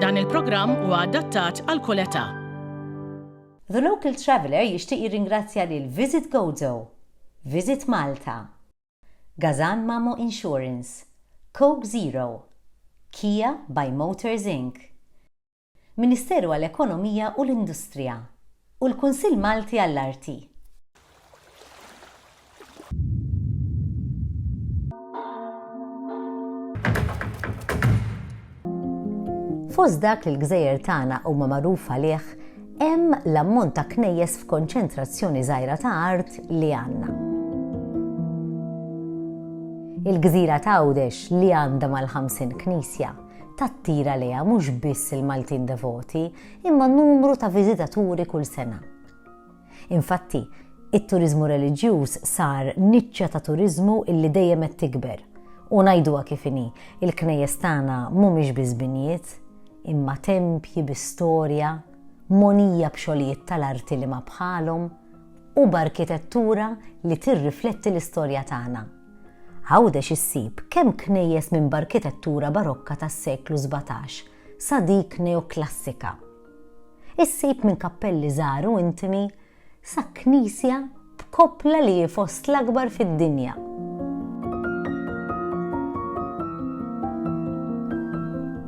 Dan il-programm huwa adattat għal kull età. The Local Traveller jixtieq jirringrazzja lil Visit Gozo, Visit Malta, Gazan Mamo Insurance, Coke Zero, Kia by Motors Inc, Ministeru għall-Ekonomija u l-Industrija, u l-Kunsill Malti għall-Arti. Fost dak li l-gżejjer tagħna huma magħruf għalih hemm l-ammont ta' knejjes f'konċentrazzjoni żgħira ta' art li għandna. Il-gżira ta' Għawdex li għandha mal-50 knisja tattira leha mhux biss il-Maltin devoti imma numru ta' viżitaturi kull sena. Infatti, it-turiżmu reliġjuż sar niċċa ta' turiżmu illi dejjem qed tikber. U ngħiduha kif inhi, il-knejjes tagħna mhumiex biss binjiet, imma tempji bi storja, mogħnija b'xogħlijiet tal-arti li ma bħalhom, u b'arkitettura li tirrifletti l-istorja tagħna. Għawdex issib kemm knejjes minn b'arkitettura barokka tas-seklu sbatax sa dik neoklassika. Issib minn kappelli żgħar u intimi sa knisja b'koppla li hi fost l-akbar fid-dinja.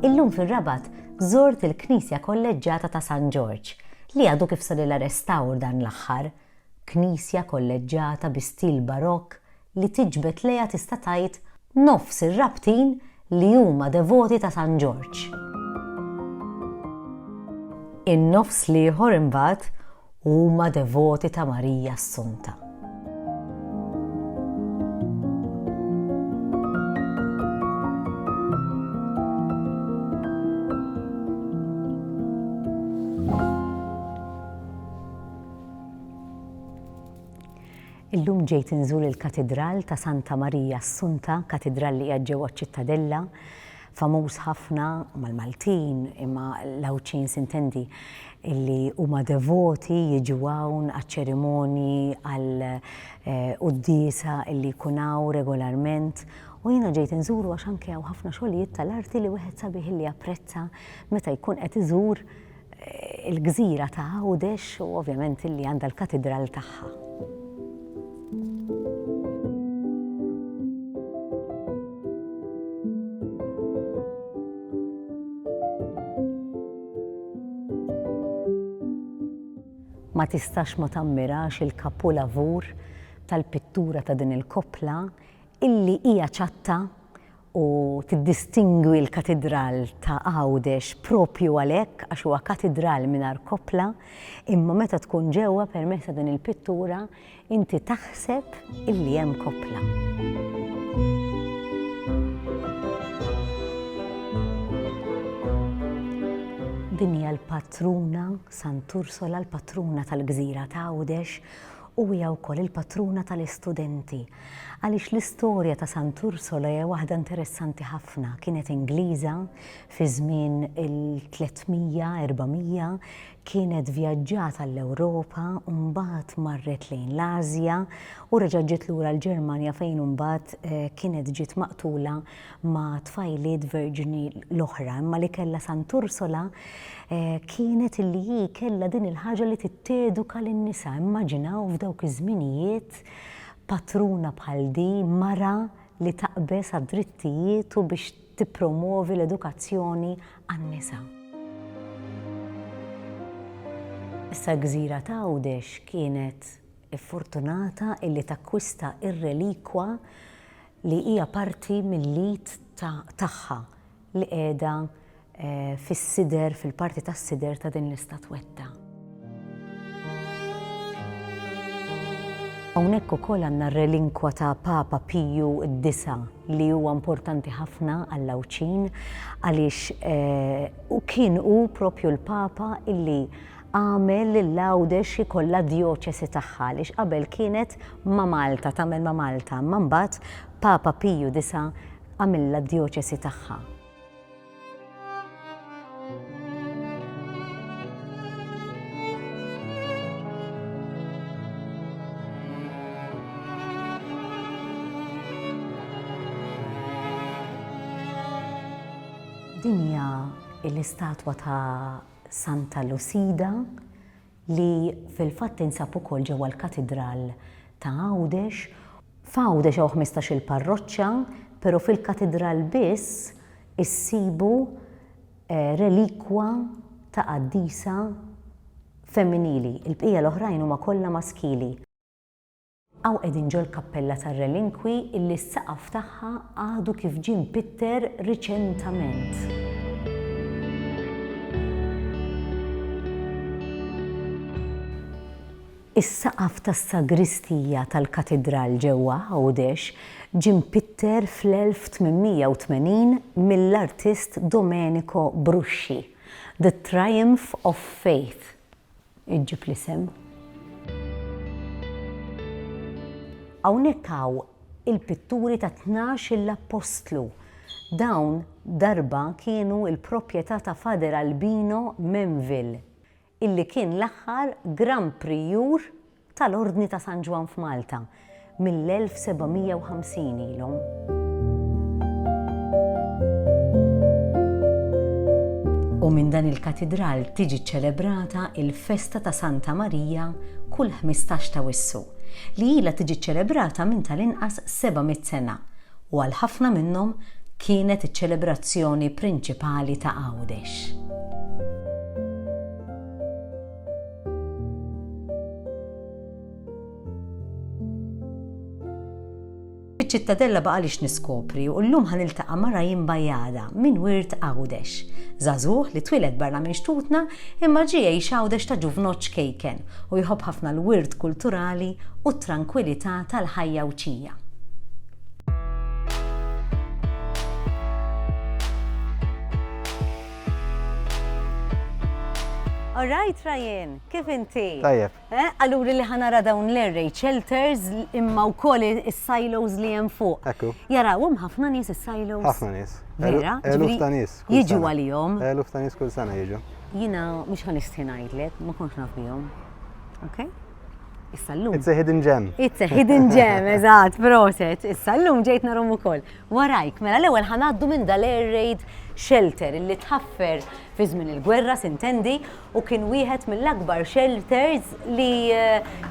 Illum fir-Rabat żort il-Knisja Kolleġġata ta' San Ġorġ li għadu kif sarilha restawr dan l-aħħar. Knisja kolleġġata bi stil barokk li tiġbed lejha tista' tgħid nofs ir-Rabtin li huma devoti ta' San Ġorġ. In-nofs l-ieħor imbagħad huma devoti ta' Marija Assunta. Illum ġejt inżur il-Katidral ta' Santa Marija Assunta, katidral li qiegħed ġewwa ċ-Ċittadella, famuż ħafna mal-Maltin, imma l-Għawdxin sintendi li huma devoti jiġu hawn għaċ-ċerimonji, għall-quddiesa li jkun hawn regolarment. U jiena ġejt inżuru għax anke hawn ħafna xogħlijiet tal-arti li wieħed sabiħ li japprezza meta jkun qed iżur il-gżira ta' Għawdex u ovvjament li għandha l-katidral tagħha. Ma tistax ma tammirax il-kapulavur tal-pittura ta' din il-koppla illi hija ċatta u tiddistingwi l-Katidral ta' Għawdex proprju għalhekk għax huwa katidral mingħajr koppla, imma meta tkun ġewwa permezz ta' din il-pittura inti taħseb illi hemm koppla. Din hija l-patruna, Sant'Ursula, l-patruna tal-gżira ta' Għawdex, u hija wkoll il-patruna tal-istudenti, għaliex l-istorja ta' Sant' Ursula hija waħda interessanti ħafna, kienet Ingliża fi żmien il-300, 400, kienet vjaġġat għall-Ewropa u mbagħad marret lejn l-Ażja u reġgħet ġiet lura l-Ġermanja fejn imbagħad kienet ġiet maqtula ma' tfajliet verġni l-oħra, imma li kellha Sant'Ursula kienet illi hi kellha din il-ħaġa li titteduka lin-nisa. Immaġinaw f'dawk iż-żminijiet patruna bħal di, mara li taqbeż għad-drittijiet u biex tippromwovi l-edukazzjoni għan-nisa. Issa l-gżira ta' Għawdex kienet iffortunata illi takkwista r-relikwa li hija parti mill-id tagħha li qiegħda fis-sider, fil-parti tas-sider ta' din l-istatwetta. Hawnhekk ukoll għandna r-relinkwa ta' Papa Piju d-Disa' li huwa importanti ħafna għall-Għawdxin għaliex kien hu proprju l-Papa illi Għamel lil Għawdex ikollha djoċesi tagħha għaliex qabel kienet ma' Malta, tagħmel ma' Malta, imma mbagħad Papa Piju disa' għamilha d-djoċesi tagħha. Din hija l-istatwa ta' Santa Lusida, li fil-fatt tinsab ukoll ġewwa l-Katidral ta' Għawdex. F'Għawdex hawn ħmistax-il parroċċa, però fil-Katidral biss issibu relikwa ta' qaddisa femminili, il-bqija l-oħrajn huma kollha maskili. Hawn qegħdin ġol-kappella tar-relinkwi illi s-saqaf tagħha għadu kif ġie mpitter riċentament. Is-saqaf tas-sagristija tal-katidral ġewwa Għawdex ġie mpitter fl-1880 mill-artist Domenico Brusci, The Triumph of Faith, iġġib l-isem. Hawnhekk hawn il-pitturi ta' tnax-il appostlu. Dawn darba kienu l-proprjetà ta' Father Albino Menville, illi kien l-aħħar Gran Prijur tal-Ordni ta' San Ġwann f'Malta mill-1750 ilhom. U minn dan il-Katidral tiġi ċċelebrata il-festa ta' Santa Marija kull ħmistax ta' Wissu, li ilha tiġi ċċelebrata minn tal-inqas 700 sena u għal ħafna minnhom kienet iċ-ċelebrazzjoni prinċipali ta' Għawdex. Fiċ-Ċittadella baqa' li x'niskopri u llum ħa niltaqa' ma' Raim Bajada minn wirt Għawdex. Żagħżugħ li twieled barra minn xtutna imma ġie jgħix Għawdex ta' ġuvnott ċkejken u jħobb ħafna l-wirt kulturali u t-trankwilità tal-ħajja Għwdxija. All right Ryan, kif inti? Tajjeb. Eh, allura li ħanara dawn l-array shelters imma wkoll is-silos li hemm fuq. Ekku. Jarawhom ħafna nies is-silos. Ħafna nies. Vera? Eluf ta' nies. Jiġu għalihom. Eluf ta' nies kull sena jiġu. Jina mhux ħan ngħidlek, ma kontx naf bihom. Okay? Issa llum. It's a hidden gem. It's a hidden gem, eżatt, proset. Issa llum ġejt narom ukoll. Warajk, mela l-ewwel ħa ngħaddu minn dal-air raid shelter illi tħaffer fi żmien il-gwerra sintendi u kien wieħed mill-akbar shelters li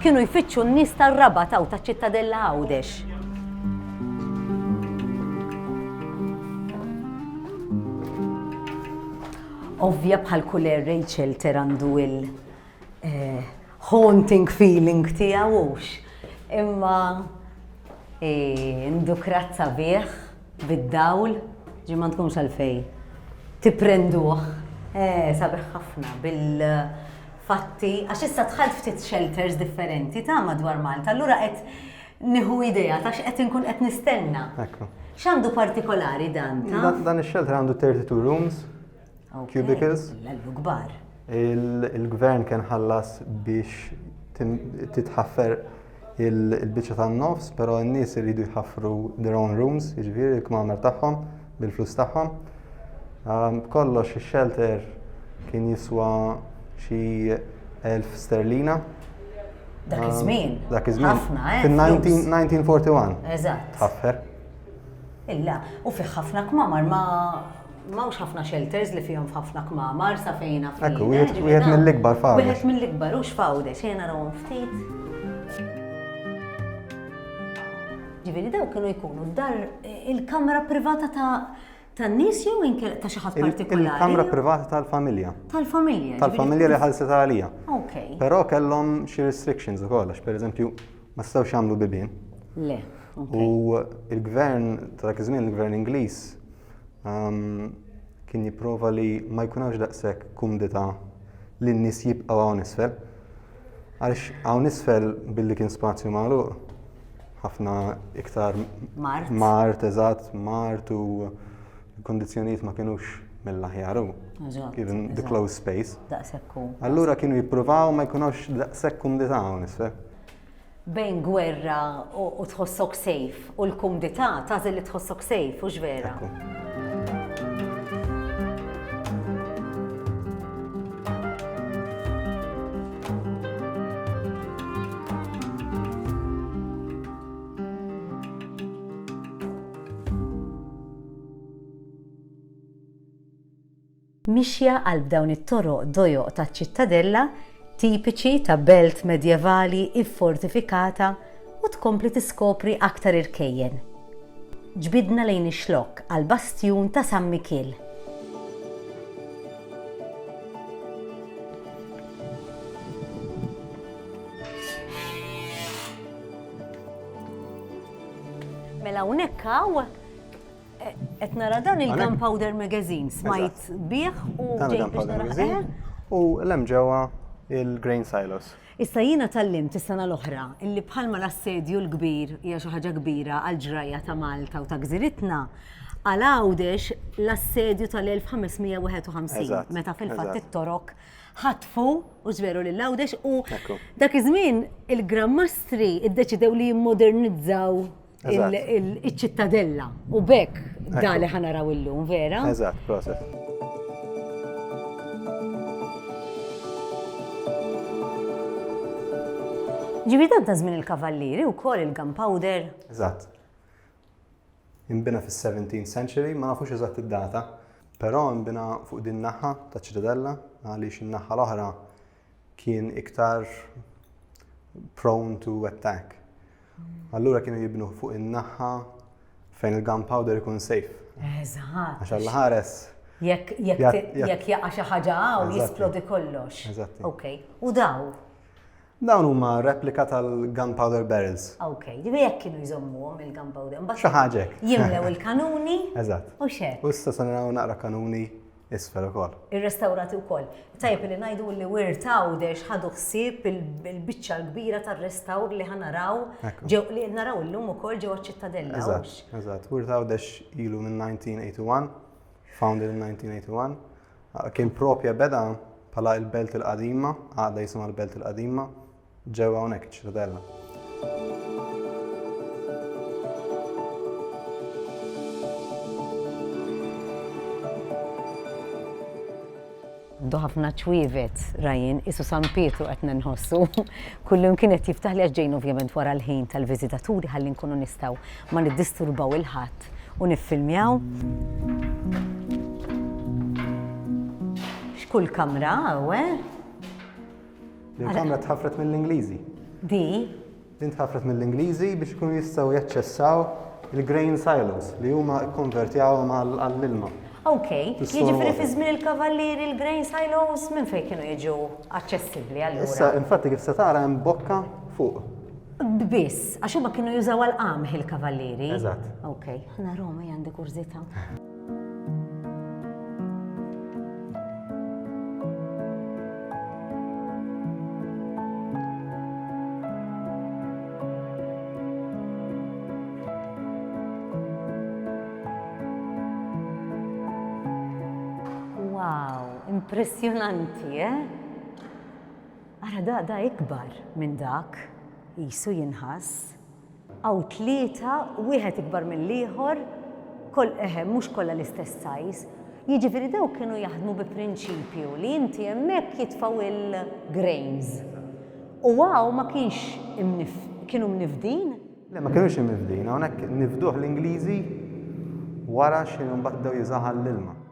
kienu jfittxu n-nies tar-Rabat hawn taċ-Ċittadella Għawdex. Ovvja bħal kull air raid shelter għandu il- haunting feeling tiegħu hux, imma indukrat sabiħ bid-dawl, ġifieri ma tkunx għalfejn tipprenduh sabiħ ħafna bil-fatti, għax issa dħalt ftit shelters differenti ta' madwar Malta, allura qed nieħu idea ta' x'qed inkun qed nistenna. X'għandu partikolari dan? Dan ix-shelter għandu 32 rooms, cubicles. L-kbar. Il-gvern kien ħallas biex titħaffer il-biċċa tan-nofs, però n-nies iridu jħaffru their own rooms, jiġifieri l-kmamer tagħhom bil-flus tagħhom. Ehm, kollox ix-shelter kien jiswa xi 1000 sterlina. Dak ehm, iż-żmien. Dak iż-żmien. Ħafna, eh? Fin-1941. Eżatt. Tħaffer. Illa, u fih ħafna kmamar ma Mawx ħafna shelters li fihom f'ħafna kmamar sa fejn naf. Ekku, wieħed eh, mill-ikbar fawdes. Wieħed mill-ikbar hux fawdes, xejn narawhom ftit. Ġifieri daw kienu jkunu dar eh, il-kamra privata ta' tan nies jew inkel ta' xi ħadd partikolari. Il-kamra privata tal-familja. Tal-familja. Tal-familja li ħalset għalija. Ok. Però kellhom xi restrictions ukoll għax pereżempju ma stawx jagħmlu bibien. Le. U il-gvern ta' dak iż-żmien il-gvern Ingliż kien jipprova li ma jkun hawnx daqshekk kumdità li n-nies jibqgħu hawn isfel. Għaliex hawn isfel billi kien spazju magħluq ħafna iktar mart, mart eżatt, mart u l-kondizzjonijiet ma kienux mill-aħjar u kien the closed space. Allura kienu jippruvaw ma jkunux daqshekk kumdità hawn isfel. Bejn gwerra u tħossok safe u l-kumdità tagħżel li tħossok safe, hux vera? Mixja qalb dawn it-toroq dojoq taċ-ċittadella, tipiċi ta' belt medjevali iffortifikata u tkompli tiskopri aktar irkejjen. Ġbidna lejn ix-xlokk għall-bastjun ta' San Mikiel. Mela hawnhekk hawn Qed nara dan il-Gunpowder Magazine, smajt bih u ġejt biex nara. U l-hemm ġewwa il-Grain Silos. Issa jiena tallimt is-sena l-oħra illi bħalma l-assedju l-kbir hija xi ħaġa kbira għall-ġrajja ta' Malta u ta' gżiritna, għal Għawdex l-assedju tal-1551 meta fil-fatt it-Torok ħatfu u ġbieru lil Għawdex u dak iż-żmien il-Gran Mastri iddeċidew li jimmodernizzaw il-ċittadella u bekk da li ħanaraw illum, vera? Eżatt, proset. Ġibi dan ta' żmien il-kavallieri u kol il-gunpowder. Eżatt. Imbina fis-17th century, ma nafux eżatt id-data, però imbina fuq din naħa ta' ċittadella għaliex in-naħa l-oħra kien iktar prone to attack. Allura kienu jibnu fuq in-naħħa fejn il-gunpowder ikun safe. Eżatt. Għax għall ħares. Jekk jaqa' xi ħaġa hawn jisplodi kollox. Eżatt. Ok. U daw? Dawn huma replika tal-gunpowder barrels. Ok, ġibi jekk kienu jżommuhom il-gunpowder. Xi ħaġa. Jimlew il-kanuni. Eżatt. U xek. U issa se naraw naqra kanuni isfel ukoll. Irrestawrati wkoll. Tajjeb li ngħidu li Wirt Għawdex ħadu ħsieb il-biċċa l-kbira tar-restawr li ħanaraw li naraw illum ukoll ġewwa ċ-Ċittadella. Eżatt, eżatt. Wirt Għawdex ilu minn 1981, founded in 1981. Kien propja beda bħala il-Belt il-Qadima, għadha jisimha l-Belt il-Qadima, Ġewwa hawnhekk iċ-Ċitadella. Għandu ħafna ċwievet, Ryan, qisu San Pietru qed ninħossu. Kullimkien qed jiftaħli għax ġejna ovvjament wara l-ħin tal-viżitaturi ħalli nkunu nistgħu ma niddisturbaw il-ħadd u niffilmjaw. X'kull kamra hawn, eh? Din kamra tħafret mill-Ingliżi. Di? Din tħafret mill-Ingliżi biex ikunu jistgħu jaċċessaw il-grain silos li huma kkonvertjaw għall-ilma. Ok, jiġifieri fi żmien il-kavallieri il-grain silos minn fejn kienu jiġu aċċessibbli għal Issa, infatti kif se tara hemm bokka fuq. Biss, għax huma kienu jużaw għal qamħ il-kavallieri. Eżatt. Ok, ħna Roma għandi kurżità. Impressjonanti, eh? Ara da da ikbar minn dak, jisu jinħass. Hawn tlieta, wieħed ikbar mill-ieħor, koll, eħe, mhux kollha l-istess sajż. Jiġifieri dawk kienu jaħdmu bi prinċipju li inti hemmhekk jitfgħu il-grains. U hawn ma kienx imnif, kienu mnifdin? Le, ma kinux imnifdin. Hawnhekk nifduh l-Ingliżi wara xi mbagħad bdew jiżgħu ħall-ilma.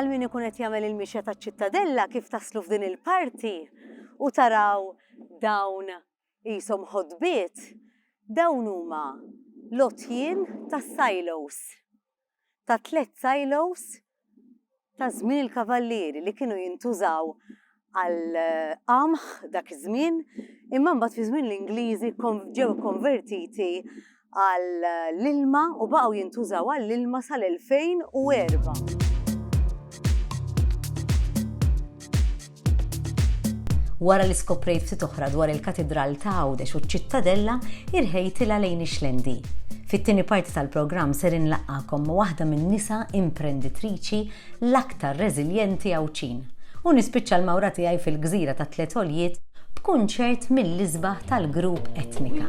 għal min ikun qed jagħmel il-mixja taċ-Ċittadella kif taslu f'din il-parti u taraw dawn jisom ħodbiet, dawn huma lotjien tas-silos. ta' tliet silos ta' żmien il-Kavallieri li kienu jintużaw għall-qamħ dak iż-żmien imma mbagħad fi żmien l-Ingliżi ġew ikkonvertiti għall-ilma u baqgħu jintużaw għall-ilma sal-2004. Wara li skoprejt ftit oħra dwar il-Katidral ta' Għawdex u ċ-Ċittadella, irħejt ilha lejn ix-Xlendi. Fit-tieni parti tal-programm ser inlaqqagħkom ma' waħda min-nisa imprenditriċi l-aktar reżiljenti Għawdxin u nispiċċa l-mawra tiegħi fil-gżira tat-Tliet Għoljiet b'kunċert mill-isbaħ tal-grupp Etnika.